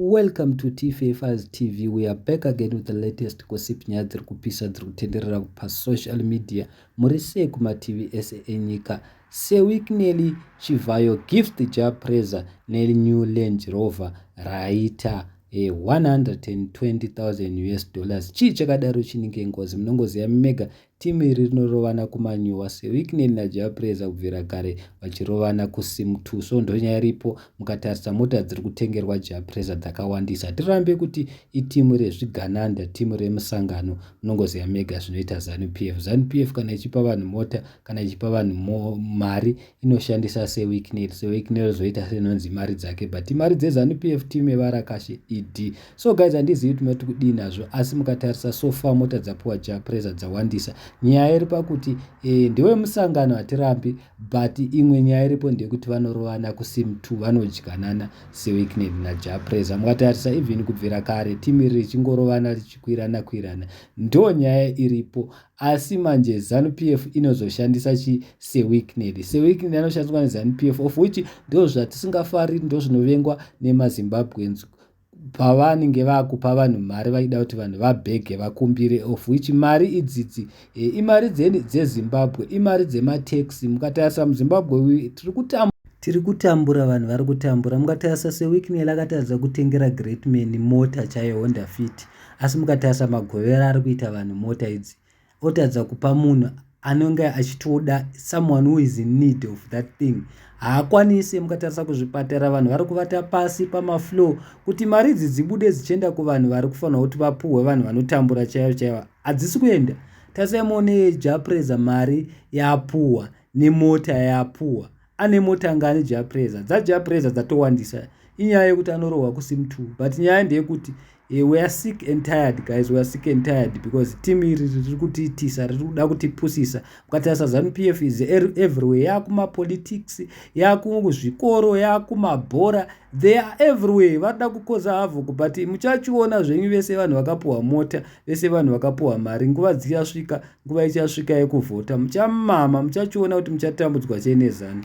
Welcome to TFFA's TV. We are back again with the latest gossip nyaya dziri kupisa dziri kutenderera pasocial media muri sei kumativi ese enyika seweek neli chivhayo gift ja praiser neli new land rover raita e 120,000 us dollars chii chakadaro chinenge ngozi munongoziva mega Team iri rinorovana kumanyuwa sewicknel naJah Prayzah kubvira kare vachirovana kusim two so ndonyaya iripo mukatarisa mota dziri kutengerwa Jah Prayzah dzakawandisa hatirambe kuti iteam rezvigananda team remusangano munongoziva mega zvinoita Zanu PF Zanu PF kana ichipa vanhu mota kana ichipa vanhu mari inoshandisa sewicknel sewicknel zvoita senonzi mari dzake but mari dzezanu p f team yevarakashe ed so guys handizivi kuti mati kudii nazvo asi mukatarisa so far mota dzapiwa ja presa dzawandisa nyaya iri pakuti e, ndewe musangano hatirambi but imwe nyaya iripo ndeyekuti vanorovana kusim t vanodyanana sewicknel naja presa mukatarisa even kubvira kare team iri richingorovana richikwirana kwirana ndo nyaya iripo asi manje zanu pf inozoshandisa chi seweekned seweekned anoshandiswa nezanu pf of which ndo zvatisingafari ndo zvinovengwa nemazimbabweans pavanenge vakupa vanhu mari vaida kuti vanhu vabhege vakumbire of which mari idzidzi e, imari dzezimbabwe dze imari dzematex mukatarisa muzimbabwe tiri kutamba tiri kutambura vanhu vari kutambura mungatarisa seweeknel akatadza kutengera greatman mota chaiyo honda fiti asi mukatarisa magovera ari kuita vanhu mota idzi otadza kupa munhu anenge achitoda someone who is in need of that thing haakwanise mukatarisa kuzvipatara vanhu vari kuvata pasi pamaflow kuti mari idzi dzibude dzichienda kuvanhu vari kufanira kuti vapuhwe vanhu vanotambura chaivo chaivo hadzisi kuenda tarisai muone japreza mari yapuhwa nemota yapuhwa ane mota anga ane japreza dzajapreza dzatowandisa inyaya yekuti anorohwa kusim two but nyaya ndeyekuti eh, we are sick and tired guys we are sick and tired because team iri riri kutiitisa riri kuda kutipusisa mukatarisa zanu p f is er-, everywhere yaakumapolitics yaakuzvikoro yaakumabhora they are everywhere vanoda kukoza havo but muchachiona zvenyu vese vanhu vakapuhwa mota vese vanhu vakapuhwa mari nguva dzichasvika nguva ichasvika yekuvhota muchamama muchachiona kuti muchatambudzwa chenezani